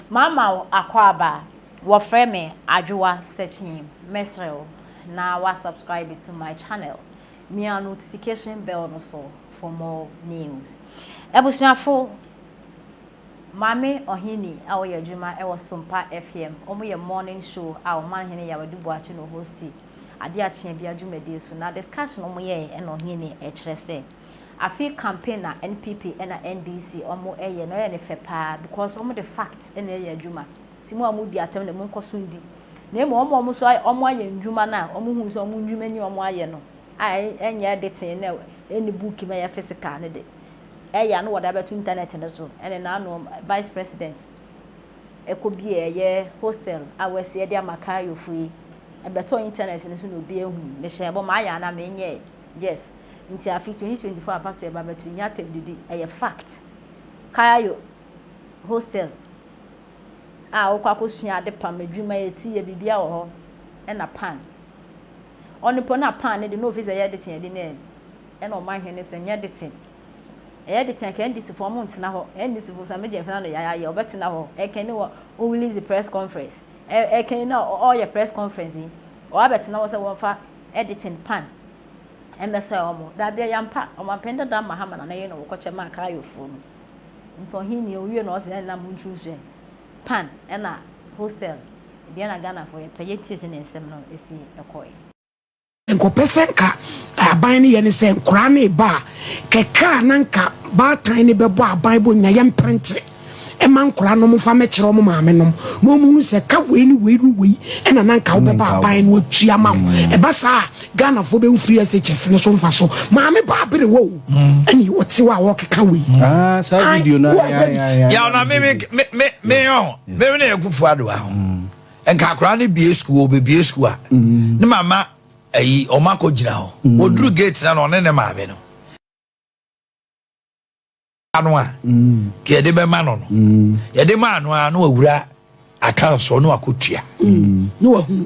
Mama wo akwaaba a wɔfrɛ me Adwoa Sekyee mɛsrɛ wo na wa subscribe to my channel mia notification bell no so for more news Abusuafo Maame Ɔheni a ɔyɛ adwuma wɔ Sompa FM wɔn yɛ morning show a Ɔmanhene Yaw Adu Boakye na ɔhosti adeɛ akyea bia dwumadie so na discussion wɔn yɛɛ na Ɔhene kyerɛ sɛ Afei campaign na NPP ɛna NDC ɔmo ɛyɛ no ɛyɛ no fɛ paa because ɔmo de facts ɛna ɛyɛ adwuma nti mo a mo di atɛm de mo nkɔ so ndi na mmom ɔmo a ɔmo nso ɔmo ayɛ ndwuma no a ɔmo hu sɛ ɔmo ndwuma ni ɔmo ayɛ no a ɛnyɛ ɛde tee na ɛni book mu ɛyɛ physical no de ɛyɛ a na wɔde abɛto internet no so ɛne na ano vice president ɛkɔ bie ɛyɛ hostel a wɔasi ɛde ama Kayofo yi ɛbɛtɔ internet no so na obi ahu mehyɛ bɔ mayɛ a na menyɛ yes. nti afe 2024 apa to ɛba but nnya atɛmdidi ɛyɛ fact Cayo hostel a wokɔ akɔsua ade pam adwuma yɛ ti yɛ biribiara wɔ hɔ ɛna pan ɔno po na pan no de na ofi sɛ ɛyɛ deten ɛde na ɛna ɔma hwene sɛ nyɛ deten ɛyɛ deten anka NDC fo ɔmo ntena hɔ NDC fo same gyɛmfena no yaya yɛ ɔbɛtena hɔ ɛkɛn ne wɔ o release press conference ɛkɛn na ɔyɛ press conference yi ɔabɛtena hɔ sɛ wɔmfa ɛdeten pan Ɛmmɛsɛe wɔn? Dabi, ɛyɛ ampa. Ɔmampanyin dada ama Haman na ne yere no wɔ kɔkyɛ maa Kareofoɔ no. Nti ɔhennii, ɔwie no, ɔse yɛn nyinaa montu nsuɛ. Pan ɛna Hostel, deɛn na Ghanafoɔ yɛ? Pɛ yɛtie sɛdeɛ nsɛm no si kɔɔɛ. Nkɔpɛ sɛ nka aban no yɛ ne sɛ nkoraa no rebaa kɛkɛ a na nka baatan no bɛbɔ aban bɔ nyina yɛmprente. ma nkwadaa no wɔmfa mmɛkyerɛ wɔn maame nom na wɔhunu sɛ ka wei ne wei ne wei ɛna na nka wobɛba aban no atua ma wo mm. ɛba saa a ghanafoɔ bɛhu firi shs no so mfa so maame ba abere wɔ o mm. ɛne ɔte wɔ a wɔkeka wei mm. ah, saa video no yɛwona meyɔ meme ne ɛkufu adoa ho nka akora no bie sukuu ɔbɛbie sukuu a ne mama ayi ɔma kɔ gyina hɔ wɔduru gate na na ɔne ne maame no no a nka yɛde bɛma no no yɛde maa no a na wawura account so na wakotua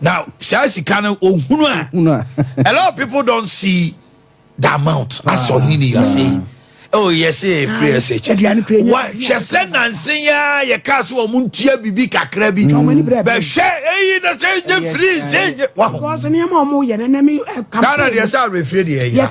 na saa sika no ohunu a a lot of people don see the amount asɛ ɔhene ne yase oh yes free sh hwɛ sɛ nansen yɛ a yɛka so wɔn ntua biribi kakra bi bɛhwɛ eyi na sɛ nye free sɛ nye waho ghana deɛ sɛ awerɛfie deɛ yɛ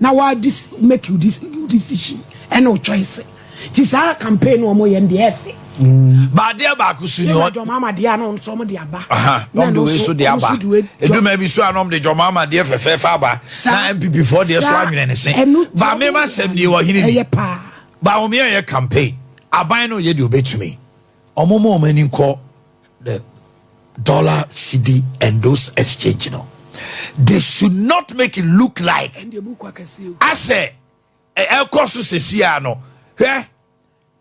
na wa make wo decision ɛne wo choice ti saa campaign no ɔmo yɛ no deɛ ɛfɛ. Mm. baadeɛ baako so ni hɔ. jɔn maama deɛ ano nso ɔmo de aba. ɔmo de wei so de aba eduma bi so ano ɔmo de jɔn maama deɛ fɛfɛɛfɛ aba na npp fɔ deɛ so anwene ne se baami ma sɛm deɛ wɔ hene ni baami yɛ yɛ campaign aban no yɛ deɛ obetumi ɔmo mo ɔmo ani nkɔ. the dollar cedi and those exchange no they should not make it look like asɛ ɛkɔ so sesia no hwɛ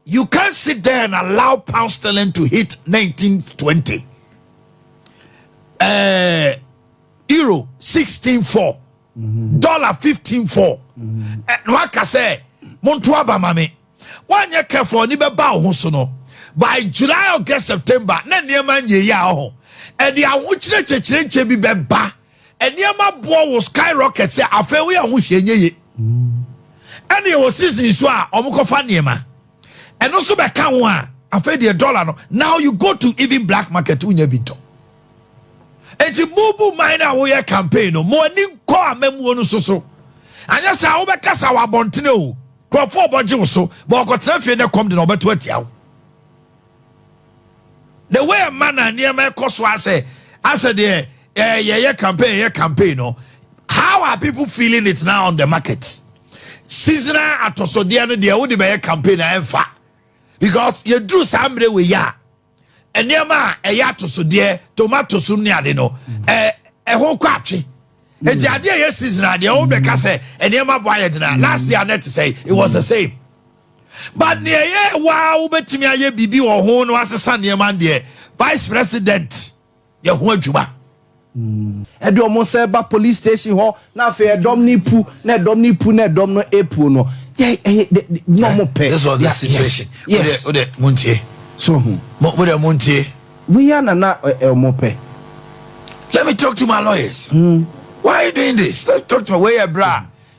you can't sit there and allow pound sterling to hit 1920 uh, euro 164 mm-hmm. dollar 154 mm-hmm. eh, no aka sɛ monto aba ma me Woanyɛ careful a ɔni bɛba wo ho so no by July August September na nneɛma nyɛ yie a ɔho ɛde ahokyerɛ kyekyerenkyɛ bi bɛba nneɛma boɔ wo sky rocket sɛ afei woyɛ ho hwee nyɛ yie ɛne ɛwɔ season nso a ɔmo kɔfa nneɛma ɛno nso bɛka ho a afei deɛ dollar no now you go to even black market wonya bi ntɔ. Enti mo bu man no a woyɛ campaign no, mo ani nkɔ amammuo no nso so. Anyɛ saa a wobɛkasa wɔ abɔntene o, nkurɔfoɔ rebɔgye wo so, ma wɔkɔtena fie na ɛkɔm de na wɔbɛto atia wo. The way ɛma na nneɛma ɛkɔ so asɛ asɛ deɛ eh, yɛyɛ campaign yɛyɛ campaign no, how are people feeling it now on the market? Seasonal atɔsodeɛ no deɛ wode bɛyɛ campaign a ɛmfa because yɛduru saa mmerɛ wei a nneɛma a ɛyɛ atosodeɛ tomatoes ne ade no ɛɛ ɛho kɔ atwe eti mm. adeɛ yɛ season adeɛ wɔn bɛka sɛ nneɛma bɔ ayɛ dena last year net sɛ it was the same but mm. nea ɛyɛ waa wobɛtumi ayɛ biribi wɔ ho na wasesa nneɛma deɛ vice president yɛ ho adwuma. Ɛde wɔn nsa ɛba police station hɔ na afei ɛdɔm no epu na ɛdɔm no epu na ɛdɔm no epu no yɛ ɛyɛ de de na wɔn pɛ. This was the situation. Yes. Wode wode mo ntie. So ho. Mo wode mo ntie. Wei ana na ɛ wɔn pɛ. Let me talk to my lawyers. Hmm. Why are you doing this? Let me talk to my wei yɛ bra.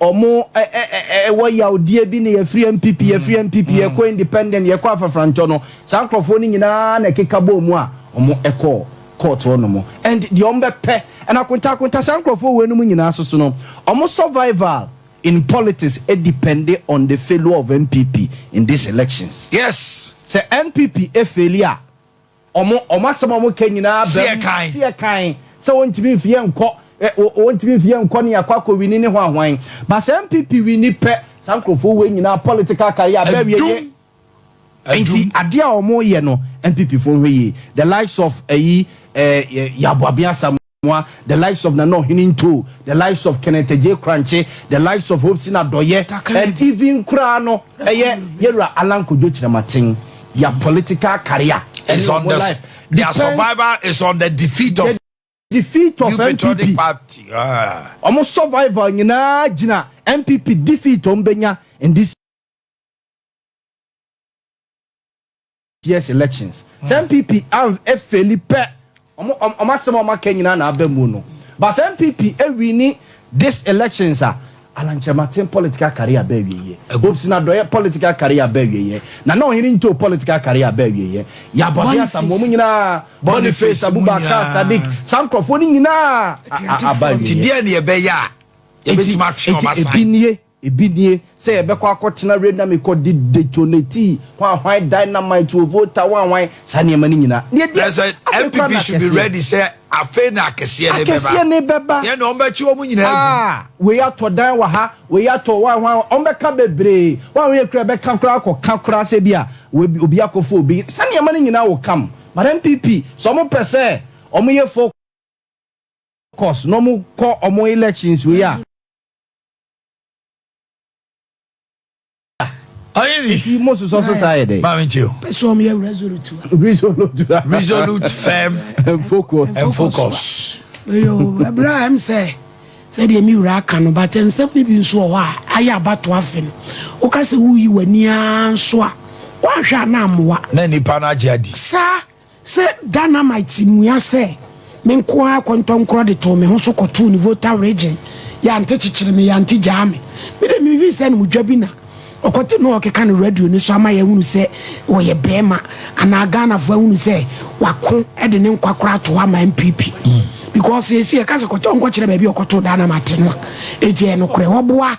Ɔmo ɛ ɛ ɛ ɛ wɔ yawdeɛ bi na yɛfiri NPP, yɛfiri NPP, yɛkɔ Independent, yɛkɔ Afafrantɔ no, saa nkorɔfoɔ no nyinaa na ɛkeka bɔɔ mu a ɔmo ɛkɔɔ court hɔ nom. And deɛ ɔmo bɛpɛ ɛna akonta akonta saa nkorɔfoɔ wei nom nyinaa soso no, ɔmo survival in politics depende on the failure of NPP in this elections. Yes! Sɛ NPP faili a, Wɔn wɔn asɛm a wɔka nyinaa bam. Seɛ kann. Seɛ kann sɛ wɔntumi mfi yɛ nkɔ ɛ wɔntumi mfi yɛ nkɔ ne yɛakɔ akɔ wini ne hwan hwan. Ba sɛ NPP wini pɛ saa nkurɔfoɔ wei nyinaa political career bɛ awie nie. Adum. Nti Adum. adeɛ a wɔyɛ no NPP foɔ nhwɛ yie the likes of ayi eh, Yaa Boabeng Asamoah. Asamoah, the likes of Nana Ɔhene Ntoo, the likes of Kenneth Adjei Korankye, the likes of Hopsin Adɔyɛ and even koraa no ɛyɛ Yɛwura Allan Kojo Kyerematen. Their political career ɛne wɔn life depends. Their survival is on the defeat of. The defeat of NPP. Wɔn survival nyinaa gyina NPP defeat wɔn bɛnya in this. Year's elections sɛ NPP anv ɛfeli pɛ ɔmo ɔmo ɔmo asɛm a ɔmo aka nyinaa na aba mu no but sɛ NPP ɛwini this elections a Alan Kyerematen political career aba awieɛ Hopson Adɔeɛ political career aba awieɛ Nana Ɔhene Ntoh political career aba awieɛ Yabɔde Asamoah ɔmo nyinaa Boniface Abubakar Sadiq saa nkorɔfoɔ no nyinaa a a aba awieɛ Nti deɛn na yɛbɛyɛ a yɛbɛtumi atwe ɔmo asan? Nti ebi nie. Ebi nie, sɛ yɛbɛkɔ akɔtena Reina Mekɔ de detonate hwanhwan dynamite wɔ voter hwanhwan saa nneɛma no nyina na yɛdi Ɛsɛ afei koraa NPP na should be akɛseɛ. ready sɛ afei na akɛseɛ no bɛba. Akɛseɛ no bɛba. Yɛn deɛ wɔn bɛkye wɔn nyinaa agu. Ah! Wei atɔ dan wɔ ha, wei atɔ hwan hwan hwan, wɔn bɛka bebree. Wɔn a wɔyɛ kura bɛka koraa akɔ ka koraa sɛ ebia wei obi akɔ fa obi. Saa nneɛma no nyinaa will come. But NPP, sɛ wɔn pɛ sɛ wɔn yɛ focus na wɔn kɔ wɔn elections wei a, ɔyɛ ni. ti mo sosɔ so saa yɛ dɛ. maame nkyɛn o. pɛ sɛ ɔmo yɛ resolute wa. resolute wa. resolute firm and focus. and focus. yoo ɛbrɛ a ɛm sɛ sɛdeɛ mi wura aka no but nsɛm no bi nso wɔ hɔ a ayɛ abato afe no woka sɛ woyi w'ani ara nso a woanhwɛ a na amoa. na nipa no agye adi. saa. Sɛ Dynamite mua sɛ me nko ara kɔntɔnkorɔ de too me ho so kɔtoo ne Volta Region, Yante kyekyere me, Yante gyaa me. Me de me hui sɛ no mu dwa bi na ɔkɔte no a ɔkeka no radio no so ama yɛahunu sɛ ɔyɛ barima anaa Ghanafoɔ ahunu sɛ wako de ne nkwa koraa ato hɔ ama NPP. Because seesei yɛka sɛ kɔtɔ, ɔnkɔkyerɛ baabi a ɔkɔtoo Dynamite no a, ɛgya yɛ nokorɛ. Ɔboa.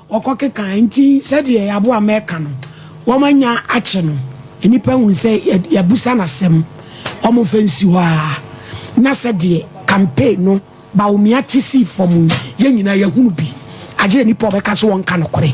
Wɔkɔkeka, enti sɛdeɛ yɛaboa ama ɛka no, wɔanya akye no, nnipa hunu sɛ yɛabisa no asɛm, wɔmfa nsi hɔ ara, na sɛdeɛ campaign no Bawumia te sii fam yi, yɛn nyinaa yɛahunu bi, agye nnipa a wɔbɛka sɛ wɔnka nokorɛ.